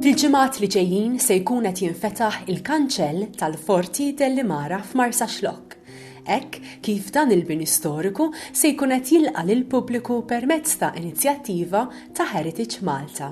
Fil-ġimgħat li ġejjin se jkun qed jinfetaħ il-kanċell tal-Forti Deli Mara f'Marsaxlokk, hekk kif dan il-bini storiku se jkun qed jilqa' lill-pubbliku permezz ta' inizjattiva ta' Heritage Malta.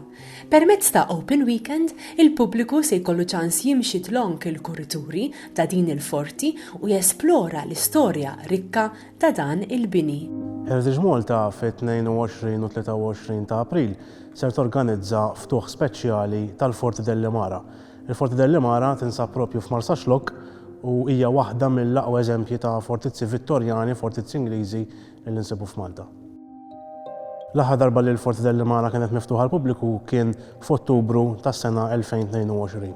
Permezz ta' Open Weekend, il-pubbliku se jkollu ċans jimxi tlonk il-kurituri ta' din il-forti u jesplora l-istorja rikka ta' dan il-bini. Heritage Malta fit-22 u 23 ta' April ser torganizza ftuħ speċjali tal-Forti Delli Mara. Il-Forti Delli Mara tinsab propju f'Marsaxlokk u hija waħda mill-aqwa eżempji ta' fortizzi Vittorjani, fortizzi Ingliżi li nsibu f'Malta. L-aħħar darba li l-Forte del Limana kienet miftuħa għall-pubbliku kien f'Ottubru tas-sena 2022.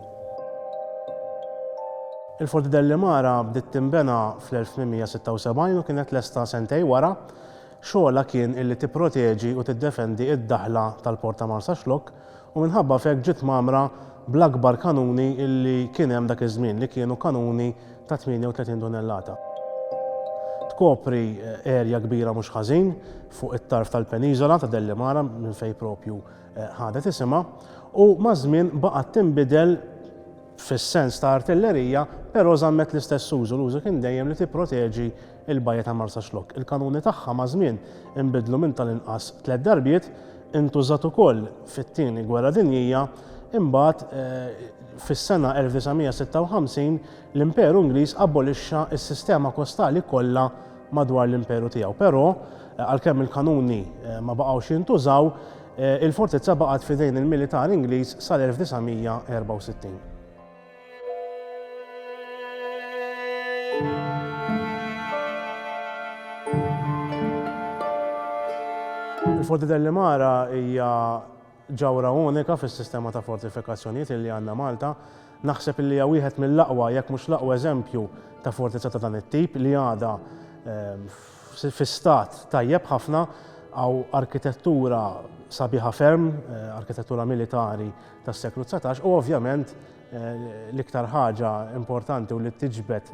Il-Forte del Limana bdiet tinbena fl-1876 u kienet lesta sentejn wara. Xogħolha kien illi tipproteġi u tiddefendi d-daħla tal-Port ta' Marsaxlokk, u minħabba f'hekk ġiet mgħammra bl-akbar kanuni li kien hemm dak iż-żmien li kienu kanuni ta' 38 tunellata. Tkopri erja kbira mhux ħażin fuq it-tarf tal-peniżola ta' Dellimara minn fejn proprju ħadet isimha u maż-żmien baqgħet tinbidel fis-sens ta' artillerija però żammet l-istess użu, l-użu kien dejjem li tipproteġi Il-Bajja ta' Marsaxlokk, il-kanuni tagħha maż-żmien inbidlu minn tal-inqas tliet darbiet, intużat ukoll fit-Tieni Gwerra Dinjija, imbagħad fis-sena 1956 l-Imperu Ingliż abolixxa s-sistema kostali kollha madwar l-Imperu tiegħu. Però, għalkemm il-kanuni ma baqgħux jintużaw, il-fortizza baqgħet f'idejn il-militar Ingliż sal-1964. Il-Forti Dellimara hija ġawra unika fis-sistema ta' fortifikazzjonijiet li għandna Malta. Naħseb li hija wieħed mill-aqwa, jekk mhux l-aqwa eżempju ta' fortizza ta' dan it-tip li għadha ehm, fi stat tajjeb ħafna għaw arkitettura sabiħa ferm, eh, arkitettura militari tas-seklu 19 u ovvjament l-iktar ħaġa importanti u li tiġbed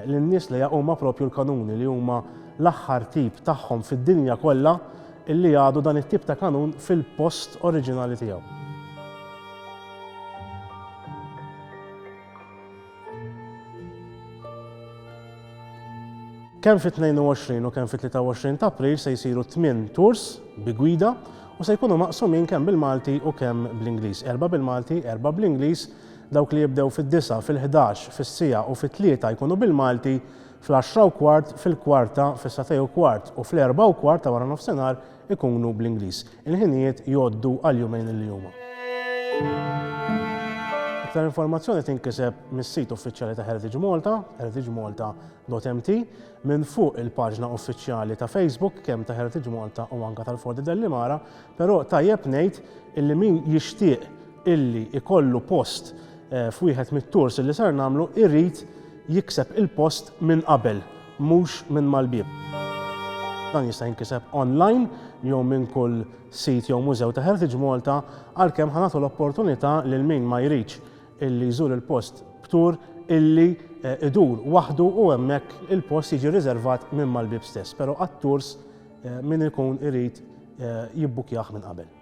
lin-nies li huma propju l-kanuni li huma l-aħħar tip tagħhom fid-dinja kollha illi għadu dan it-tip ta' kanun fil-post oriġinali tiegħu. Kemm fit-22 u kemm fit-23 ta' April se jsiru tmien tours bi gwida u se jkunu maqsumin kemm bil-Malti u kemm bl-Ingliż. Erba' bil-Malti, erba' bl-Ingliż, dawk li jibdew fid-disgħa, fil-ħdax, fis-siegħa u fit-tlieta jkunu bil-Malti, fl-għaxra u kwart, fil-kwarta, fis-sagħtej u kwart u fl-erbgħa u kwart ta' waranofsinhar ikunu bl-Ingliż. Il-ħinijiet jgħoddu għal jumejn li huma. Iktar informazzjoni tinkiseb mis-sit uffiċjali ta' Heritage Malta, heritagemalta.mt, minn fuq il-paġna uffiċjali ta' Facebook kemm ta' Heritage Malta u anka tal-Forti Dellimara, però tajjeb ngħid illi min jixtieq illi ikollu post eh, f'wieħed mit-tours illi ser nagħmlu irid jikseb il-post minn qabel. mhux minn mal-bieb. Dan jista' jinkiseb online jew minn kull sit jew mużew ta' Heritage Malta għalkemm ħa nagħtu l-opportunità lil min ma jridx illi jżur il-post b'tour illi idur waħdu u hemmhekk il-post jiġi riservat minn mal-bieb stess, pero għat-tours min ikun irid jibbukkjah minn qabel.